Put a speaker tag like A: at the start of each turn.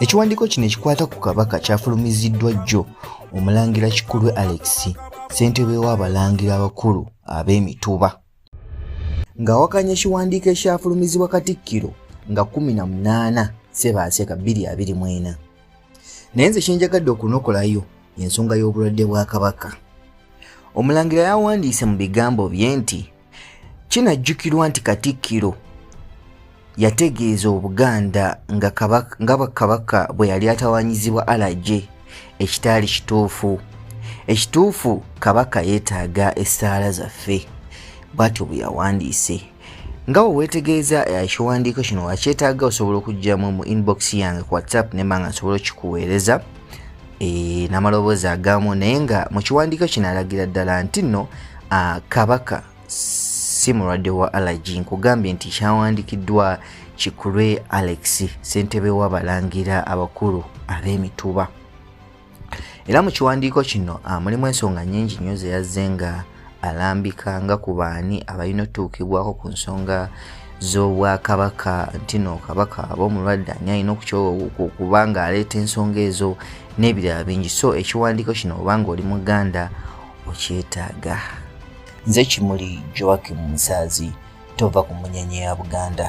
A: ekiwandiiko kino ekikwata ku kabaka kyafulumiziddwa jjo omulangira kikulwe alex ssentebe w'abalangira abakulu ab'emituba ng'awakanya ekiwandiiko ekyafulumizibwa katikkiro nga 18 sebaase ka 224 naye nze kyenjagadde okunokolayo ensonga y'obulwadde bwa kabaka omulangira yawandiise mu bigambo bye nti kinajjukirwa nti katikkiro yategeeza obuganda nga kabaka bwe yali atawanyizibwa alaje ekitaali kituufu ekituufu kabaka yeetaaga essaala zaffe bwatyo bwe yawandiise nga we weetegeeza ekiwandiiko eh, kino wakyetaaga osobola okugyamu mu inbox yange ku whatsapp nemba nga nsobola okikuweereza e, n'amaloboozi agamu naye nga mu kiwandiiko kino alagira ddala nti nno kabaka si mulwadde wa allergy nkugambye nti kyawandikiddwa kikulwe alex ssentebe w'abalangira abakulu ab'emituba era mu kiwandiiko kino mulimu ensonga nyingi nnyo zeyazze nga alambika nga ku baani abalina otutuukibwako ku nsonga z'obwakabaka ntino kabaka aba omulwadde ani alina okuba nga aleeta ensonga ezo n'ebirala bingi so ekiwandiiko kino obanga oli muganda okyetaaga nze kimuli joakim musaazi tova ku munyenye ya buganda